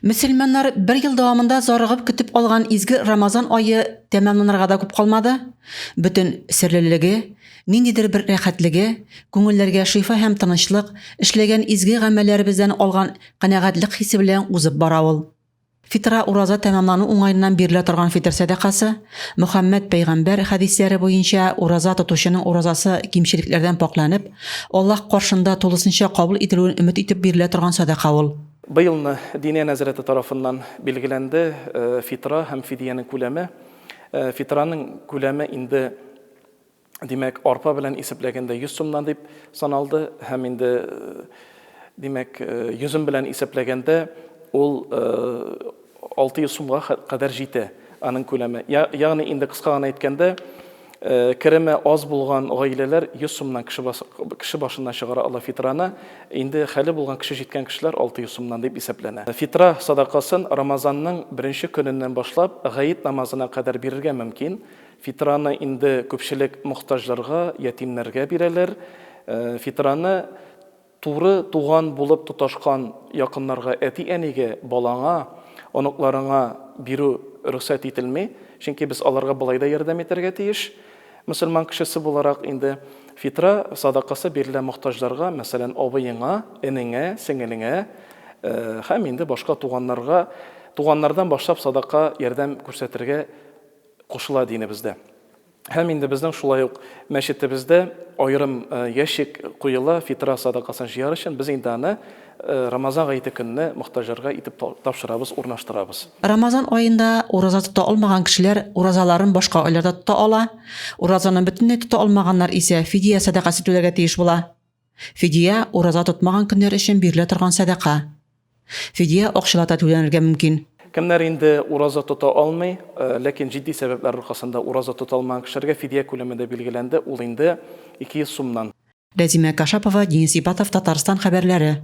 Мөселманнар бер ел дәвамында зарыгып көтеп алган изге Рамазан ае тәмамланырга да күп калмады. Бөтен серлелеге, ниндидер бер рәхәтлеге, күңелләргә шифа һәм тынычлык, эшләгән изге гамәлләребездән алган канәгатьлек хисе белән узып бара ул. Фитра ураза тәмамлану уңаеннан бирелә торган фитр сәдакасы, Мөхәммәд пәйгамбәр хәдисләре буенча, ураза тотучының уразасы кимчелекләрдән пакъланып, Аллаһ каршында тулысынча кабул ителүен өмет итеп бирелә торган садака ул. Быелны Диния нәзарәте тарафыннан билгеләнде фитра һәм фидиянең күләме. Фитраның күләме инде, димәк, арпа белән исәпләгәндә 100 сумнан дип саналды һәм инде, димәк, йөзем белән исәпләгәндә ул Алты йөз сумга кадәр җитә аның күләме. Ягъни инде кыска гына әйткәндә, кереме аз булган гаиләләр 100 сумнан кеше башына чыгара ала фитраны, инде хәле булган кеше җиткән кешеләр 600 сумнан дип исәпләнә. Фитра садакасын Рамазанның беренче көненнән башлап Гает намазына кадәр бирергә мөмкин. Фитраны инде күпчелек мохтаҗларга, ятимнәргә бирәләр. Фитраны Туры туган булып тоташкан якыннарга, әти-әнигә, балаңа, оныкларыңа бирү рөхсәт ителми, чөнки без аларга болай да ярдәм итәргә тиеш. Мөселман кешесе буларак, инде фитра садакасы бирелә мохтаҗларга, мәсәлән, абыеңа, энеңә, сеңелеңә һәм инде башка туганнарга, туганнардан башлап садака ярдәм күрсәтергә кушыла динебездә. Һәм инде безнең шулай ук мәчетебездә аерым ящик куела фитра садакасын җыяр өчен, без инде аны Рамазан гаете көнне мохтаҗларга итеп тапшырабыз, урнаштырабыз. Рамазан аенда ураза тота алмаган кешеләр уразаларын башка айларда тота ала, уразаны бөтенләй тота алмаганнар исә фидия сәдакасы түләргә тиеш була. Фидия, ураза тотмаган көннәр өчен бирелә торган сәдака. Фидия акчалата түләнергә мөмкин. Кемнәр инде ураза тота алмый, ләкин җитди сәбәпләр аркасында ураза тота алмаган кешеләргә фидия күләме дә билгеләнде, ул инде 200 сумнан. Рәзимә Кашапова, Денис Ибатов, Татарстан хәбәрләре.